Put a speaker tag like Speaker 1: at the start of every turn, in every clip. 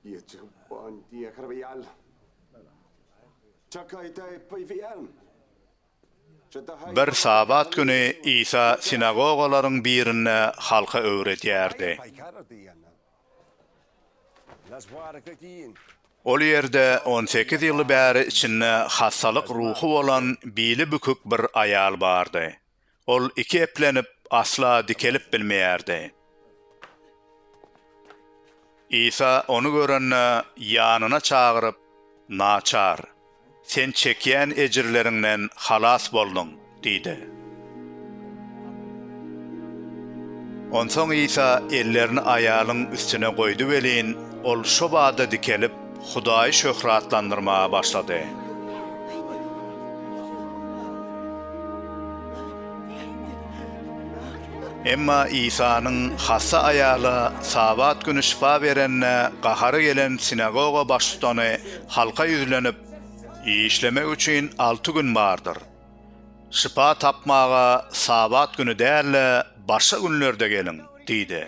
Speaker 1: Ýetip bond diýe kirbiýal. Çakaýta epbiýal. Bir Sabat güni Isa sinagogalaryň birinde halka öwredýärdi. Ol ýerde on sekiz ýyl bäri içinde hassalyk ruhy bolan bili bükük bir aýal bardy. Ol iki eplenip, asla dikelip bilmeýärdi. Isa ony görende, ýanyna çagyryp, Naçar, sen çekýän ejirleriňden halas bolduň diýdi. Onsoň Isa ellerini aýalyň üstüne goýdy welin, ol şo bada dikelip, Hudaýy şöhratlandyrmaga başlady. Emma Isanyň hassa aýala Sabat güni şypa berenine gahary gelen sinagoga baştutany halka ýüzlenip, Işlemek üçin alty gün bardyr. Şypa tapmaga Sabat güni däl-de, başga günlerde geliň! diýdi.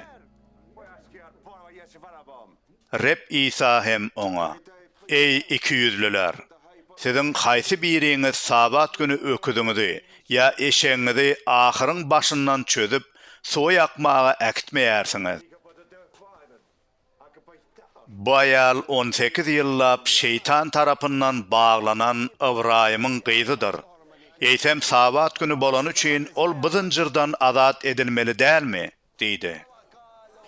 Speaker 1: Reb Isa hem oňa, Eý, ikiýüzlüler! Siziň haýsy biriňiz Sabat güni öküziňizi ýa eşegiňizi ahyryň başyndan çözüp, suwa ýakmaga äkitmeýärsiňiz? Bu aýal on sekiz ýyllap Şeýtan tarapyndan baglanan Ybraýymyň gyzydyr. Eýsem, Sabat güni bolany üçin ol bu zynjyrdan azat edilmeli dälmi? Diýdi.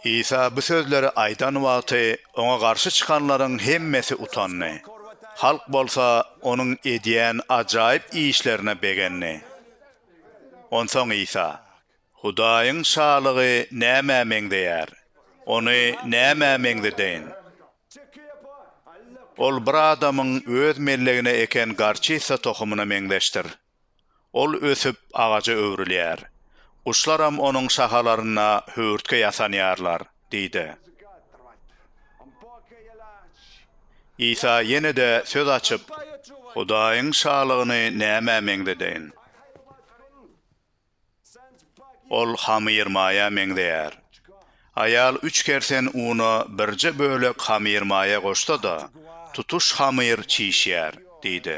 Speaker 1: Isa bu sözleri aýdan wagty, oňa garşy çykanlaryň hemmesi utandy. Halk bolsa onuň edýän ajaýyp işlerine begendi. Onsoň Isa, Hudaýyň Şalygy nämä meňzeýär? Ony nämä meňzedeýin? Ol bir adamyň öz mellegine eken gorçitsa tohumyna meňzeşdir. Ol ösüp, agaja öwrülýär. Guşlaram onuň şahalarynda höwürtge ýasanýarlar, diýdi. Isa ýene-de söz açyp, Hudaýyň Şalygyny nämä meňzedeýin? Ol hamyrmaýa meňzeýär. Aýal üç kersen una birje bölek hamyrmaýa goşsa-da, tutuş hamyr çişýär, diýdi.